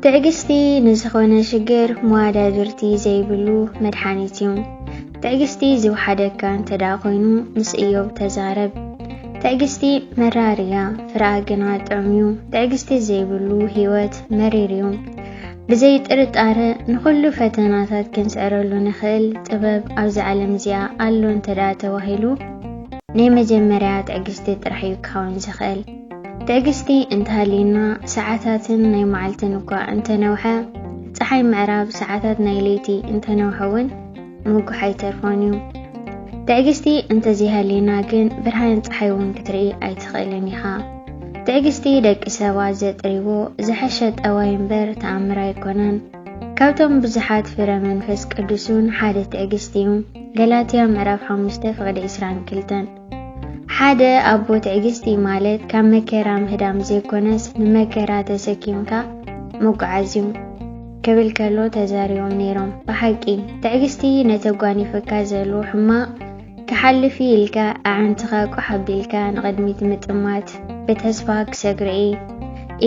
ትዕግስቲ ንዝኾነ ሽግር መዋዳድርቲ ዘይብሉ መድሓኒት እዩ። ትዕግስቲ ዝውሓደካ እንተደኣ ኮይኑ ምስ እዮብ ተዛረብ። ትዕግስቲ መራር እያ ፍረኣ ግና ጥዑም እዩ ትዕግስቲ ዘይብሉ ህይወት መሪር እዩ ብዘይ ጥርጣረ ንኹሉ ፈተናታት ክንስዕረሉ ንኽእል ጥበብ ኣብዚ ዓለም እዚኣ ኣሎ እንተደኣ ተባሂሉ ናይ መጀመርያ ትዕግስቲ ጥራሕ እዩ ክኸውን ዝኽእል ትዕግስቲ እንተሃልዩና ሰዓታትን ናይ መዓልትን እኳ እንተነውሐ ፀሓይ ምዕራብ ሰዓታት ናይ ለይቲ እንተነውሐ እውን ምጉሕ ኣይተርፎን እዩ። ትዕግስቲ እንተዘይሃልዩና ግን ብርሃን ፀሓይ እውን ክትርኢ ኣይትኽእልን ኢኻ። ትዕግስቲ ደቂ ሰባት ዘጥርይዎ ዝሐሸ ጠባይ እምበር ተኣምር ኣይኮነን። ካብቶም ብዙሓት ፍረ መንፈስ ቅዱስ እውን ሓደ ትዕግስቲ እዩ። ገላትያ ምዕራፍ ሓሙሽተ ፍቕዲ ዕስራን ክልተን ሓደ ኣቦ ትዕግስቲ ማለት ካብ መከራ ምህዳም ዘይኮነስ ንመከራ ተሰኪምካ ምጉዓዝ እዩ ክብል ከሎ ተዛሪቦም ነይሮም። ብሓቂ ትዕግስቲ ነተጓኒፈካ ዘሉ ሕማቕ ክሓልፍ ኢልካ ኣዓንትኻ ቋሕ ኣቢልካ ንቕድሚት ምጥማት ብተስፋ ክሰግርዒ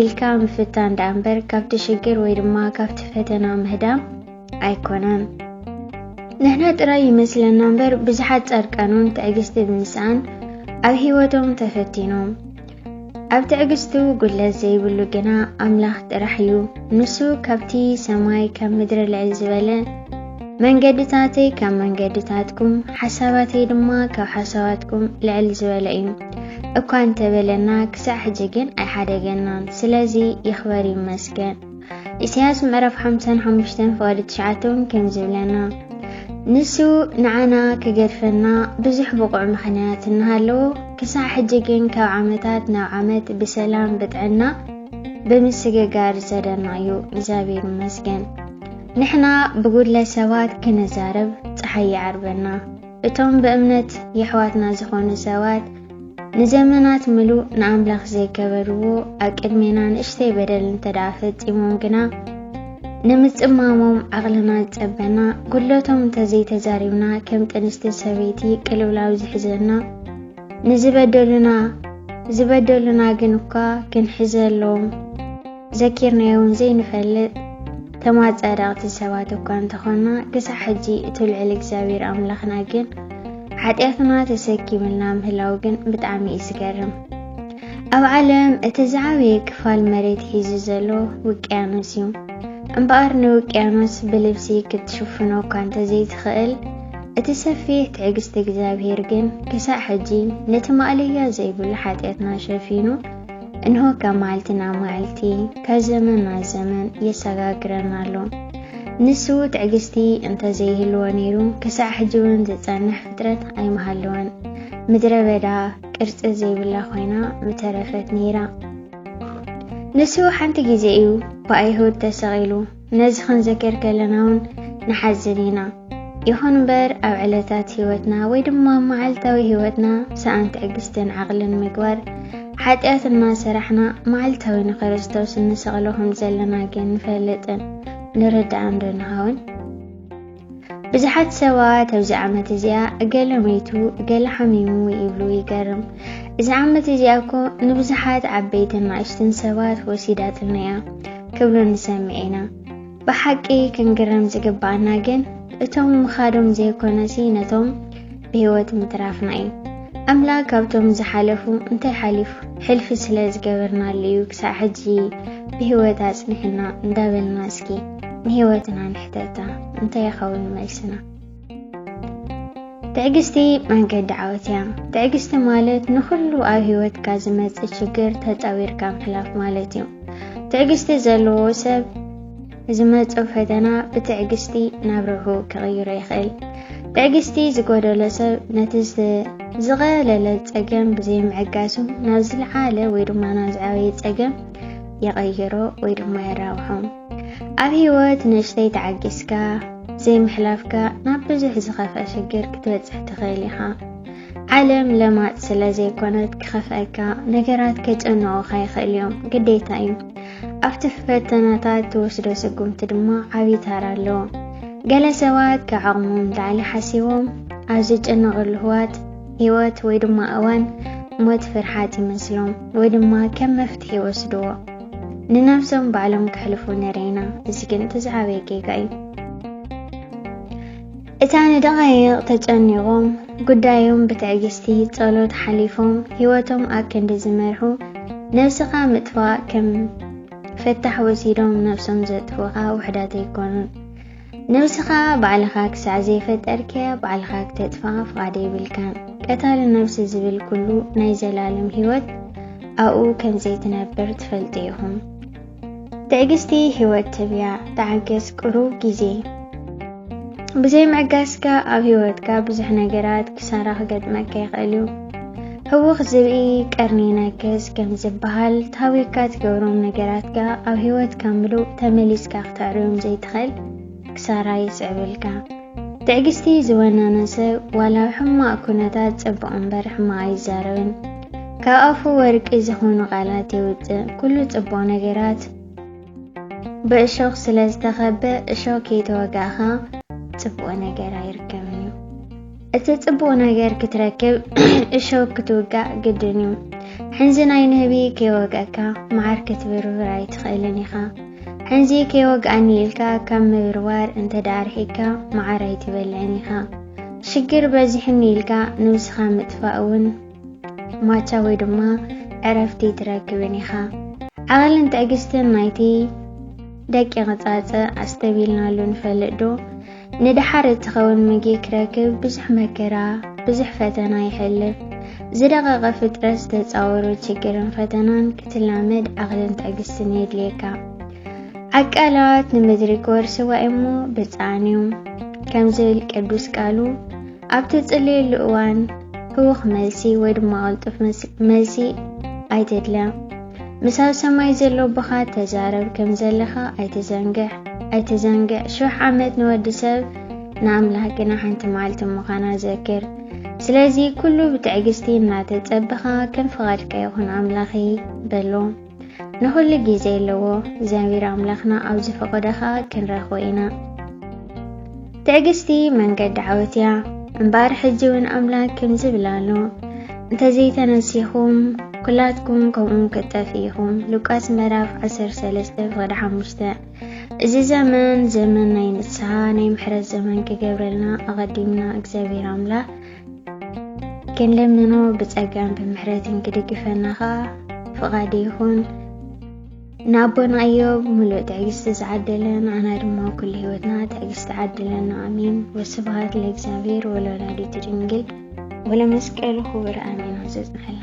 ኢልካ ምፍታን ደኣ እምበር ካብቲ ሽግር ወይ ድማ ካብቲ ፈተና ምህዳም ኣይኮነን። ንሕና ጥራይ ይመስለና እምበር ብዙሓት ጻድቃኑን ትዕግስቲ ብምስኣን ኣብ ህይወቶም ተፈቲኖም። ኣብ ትዕግስቱ ጉድለት ዘይብሉ ግና ኣምላኽ ጥራሕ እዩ። ንሱ ካብቲ ሰማይ ካብ ምድሪ ልዕል ዝበለ መንገድታተይ ካብ መንገድታትኩም ሓሳባተይ ድማ ካብ ሓሳባትኩም ልዕል ዝበለ እዩ እኳ እንተበለና ክሳዕ ሕጂ ግን ኣይሓደገናን። ስለዚ ይኽበር ይመስገን። ኢሳያስ ምዕራፍ ሓምሳን ሓሙሽተን ፍቓዲ ትሽዓተ እውን ከምዚ ይብለና ንሱ ንዓና ክገድፈና ብዙሕ ብቑዕ ምኽንያት እናሃለዎ ክሳዕ ሕጂ ግን ካብ ዓመታት ናብ ዓመት ብሰላም ብጥዕና ብምስግጋር ዝሰደና እዩ እግዚኣብሔር ይመስገን ንሕና ብጉድለት ሰባት ክንዛረብ ፀሓይ ይዓርበና እቶም ብእምነት የሕዋትና ዝኾኑ ሰባት ንዘመናት ምሉእ ንኣምላኽ ዘይገበርዎ ኣቅድሜና ንእሽተይ በደል እንተደኣ ፈጺሞም ግና ንምጽማሞም ዓቕልና ዝጸበና ጉድለቶም እንተዘይተዛሪብና ከም ጥንስቲ ሰበይቲ ቅልውላው ዝሕዘና ንዝበደሉና ዝበደሉና ግን እኳ ክንሕዘሎም ዘኪርናዮን ዘይንፈልጥ ተማጻዳቕቲ ሰባት እኳ እንተኾና ክሳዕ ሕጂ እቲ ልዑል እግዚኣብሔር ኣምላኽና ግን ሓጢኣትና ተሰኪምልና ምህላው ግን ብጣዕሚ እዩ ዝገርም። ኣብ ዓለም እቲ ዝዓበየ ክፋል መሬት ሒዙ ዘሎ ውቅያኖስ እዩ። እምበኣር ንውቅያኖስ ብልብሲ ክትሽፍኖ እኳ እንተዘይትኽእል እቲ ሰፊሕ ትዕግስቲ እግዚኣብሔር ግን ክሳዕ ሕጂ ነቲ ማእለያ ዘይብሉ ሓጢኣትና ሸፊኑ እንሆ ካብ መዓልቲ ናብ መዓልቲ ካብ ዘመን ናብ ዘመን የሰጋግረና ኣሎ ንሱ ትዕግስቲ እንተ ዘይህልዎ ነይሩ ክሳዕ ሕጂ እውን ዝጸንሕ ፍጥረት ኣይምሃለወን ምድረ በዳ ቅርጺ ዘይብላ ኮይና ምተረፈት ነይራ ንሱ ሓንቲ ግዜ እዩ ብኣይሁድ ተሰቒሉ ነዚ ክንዘክር ከለና እውን ንሓዝን ኢና። ይኹን እምበር ኣብ ዕለታት ህይወትና ወይ ድማ ኣብ መዓልታዊ ህይወትና ሰኣን ትዕግስትን ዓቕልን ምግባር ሓጢኣት እናሰራሕና መዓልታዊ ንክርስቶስ እንሰቕሎ ከም ዘለና ግን ንፈልጥን ንርዳእን ዶ ንኸውን? ብዙሓት ሰባት ኣብዚ ዓመት እዚኣ እገለ መይቱ እገለ ሓሚሙ ይብሉ ይገርም እዚ ዓመት እዚኣ እኮ ንብዙሓት ዓበይትን ናእሽትን ሰባት ወሲዳትና እያ ክብሉ ንሰምዕ ኢና ብሓቂ ክንግረም ዝግባኣና ግን እቶም ምኻዶም ዘይኮነሲ ነቶም ብህይወት ምትራፍና እዩ። ኣምላክ ካብቶም ዝሓለፉ እንታይ ሓሊፉ ሕልፊ ስለ ዝገበርናሉ እዩ ክሳዕ ሕጂ ብህይወት ኣጽኒሕና እንዳበልና እስኪ ንህይወትና ንሕተታ እንታይ ይኸውን መልስና? ትዕግስቲ መንገዲ ዓወት እያ። ትዕግስቲ ማለት ንኹሉ ኣብ ህይወትካ ዝመጽእ ችግር ተጻዊርካ ምሕላፍ ማለት እዩ። ትዕግስቲ ዘለዎ ሰብ ዝመጾ ፈተና ብትዕግስቲ ናብ ርብሑ ክቕይሮ ይኽእል። ትዕግስቲ ዝጎደሎ ሰብ ነቲ ዝቐለለ ጸገም ብዘይምዕጋሱ ናብ ዝለዓለ ወይ ድማ ናብ ዝዓበየ ጸገም ይቐይሮ ወይ ድማ የራብሖ። ኣብ ህይወት ንእሽተይ ተዓጊስካ ዘይምሕላፍካ ናብ ብዙሕ ዝኸፍአ ሽግር ክትበጽሕ ትኽእል ኢኻ። ዓለም ለማጽ ስለ ዘይኮነት ክኸፍአካ ነገራት ከጨንቑኻ ይኽእል እዮም፣ ግዴታ እዩ። ኣብቲ ፈተናታት ትወስዶ ስጉምቲ ድማ ዓብዪ ታራ ኣለዎ። ገለ ሰባት ከዓቕሞም ንላዕሊ ሓሲቦም ኣብ ዝጨነቐሉ ህዋት ህይወት ወይ ድማ እዋን ሞት ፍርሓት ይመስሎም ወይ ድማ ከም መፍትሒ ይወስድዎ። ንነብሶም ባዕሎም ከሕልፉ ንርኢ ኢና። እዚ ግን እቲ ዝዓበየ ጌጋ እዩ። እታ ንደቓይቕ ተጨኒቖም ጉዳዮም ብትዕግስቲ ጸሎት ሓሊፎም ህይወቶም ኣክንዲ ዝመርሑ ነብስኻ ምጥፋእ ከም ፈታሕ ወሲዶም ነብሶም ዘጥፍኡኻ ውሕዳት ኣይኮኑን። ነብስኻ ባዕልኻ ክሳዕ ዘይፈጠርክያ ባዕልኻ ክተጥፍኣ ፍቓድ የብልካን። ቀታሊ ነብሲ ዝብል ኩሉ ናይ ዘላለም ህይወት ኣብኡ ከም ዘይትነብር ትፈልጡ ኢኹም። ትዕግስቲ ህይወት ትብያ ተዓገስ ቅሩብ ግዜ ብዘይ ምዕጋስካ ኣብ ህይወትካ ብዙሕ ነገራት ክሳራ ክገጥመካ ይኽእል እዩ። ህውኽ ዝብኢ ቀርኒ ይነክስ ከም ዝበሃል ታዊካ ትገብሮም ነገራትካ ኣብ ህይወትካ ምሉእ ተመሊስካ ክተዕርዮም ዘይትኽእል ክሳራ የስዕበልካ። ትዕግስቲ ዝወነነ ሰብ ዋላ ሕማቕ ኩነታት ጽቡቕ እምበር ሕማቕ ኣይዛረብን። ካብ ኣፉ ወርቂ ዝኾኑ ቃላት የውጽእ። ኩሉ ጽቡቕ ነገራት ብእሾኽ ስለ ዝተኸበ እሾኽ ከይተወጋእኻ ጽቡቕ ነገር ኣይርከብን እዩ። እቲ ጽቡቕ ነገር ክትረክብ እሾክ ክትውጋእ ግድን እዩ። ሕንዚ ናይ ንህቢ ከይወግአካ መዓር ክትብርብር ኣይትኽእልን ኢኻ። ሕንዚ ከይወግኣኒ ኢልካ ካብ ምብርባር እንተ ደኣ ርሒቅካ መዓር ኣይትበልዕን ኢኻ። ሽግር በዚሑኒ ኢልካ ንብስኻ ምጥፋእ እውን ማቻ ወይ ድማ ዕረፍቲ ኣይትረክብን ኢኻ። ዓቐልን ትዕግስትን ናይቲ ደቂቕ ጻጸ ኣስተብሂልናሉ ንፈልጥ ዶ? ንደሓር እትኸውን ምግቢ ክረክብ ብዙሕ መከራ፣ ብዙሕ ፈተና ይሕልፍ። ዝደቐቐ ፍጥረት ዝተጻወሮ ችግርን ፈተናን ክትላመድ ዓቕልን ትዕግስትን የድልየካ። ዓቃላት ንምድሪ ክወርስዋ እሞ ብጻዕን እዮም ከም ዝብል ቅዱስ ቃሉ ኣብ ትጽልየሉ እዋን ህውኽ መልሲ ወይ ድማ ቅልጡፍ መልሲ ኣይተድለ። ምስ ኣብ ሰማይ ዘሎ ኣቦኻ ተዛረብ ከም ዘለኻ ኣይትዘንግዕ ኣይትዘንግዕ። ሽሕ ዓመት ንወዲ ሰብ ንኣምላኽ ግና ሓንቲ መዓልቲ ምዃና ዘክር። ስለዚ ኩሉ ብትዕግስቲ እናተጸበኻ ከም ፍቓድካ ይኹን ኣምላኺ በሎ። ንኹሉ ግዜ ኣለዎ ዘንቢር ኣምላኽና ኣብ ዝፈቐዶ ኸኣ ክንረኽቦ ኢና ትዕግስቲ መንገዲ ዓወት እያ እምበኣር ሕጂ እውን ኣምላክ ከምዚ ይብል ኣሎ እንተዘይተነሲኹም ኩላትኩም ከምኡ ክጠፍ ኢኹም ሉቃስ ምዕራፍ 13 ፍቕዲ 5 እዚ ዘመን ዘመን ናይ ንስሓ ናይ ምሕረት ዘመን ክገብረልና ኣቐዲምና እግዚኣብሔር ኣምላኽ ክንልምኖ ብጸጋን ብምሕረትን ክድግፈና ኸኣ ፍቓድ ይኹን። ንኣቦና እዮብ ምሉእ ትዕግስቲ ዝዓደለ ንኣና ድማ ኩሉ ህይወትና ትዕግስቲ ዓድለና ኣሜን። ወስብሃት ለእግዚኣብሔር ወለወላዲቱ ድንግል ወለመስቀሉ ክቡር ኣሜን። ዘጽንሐልና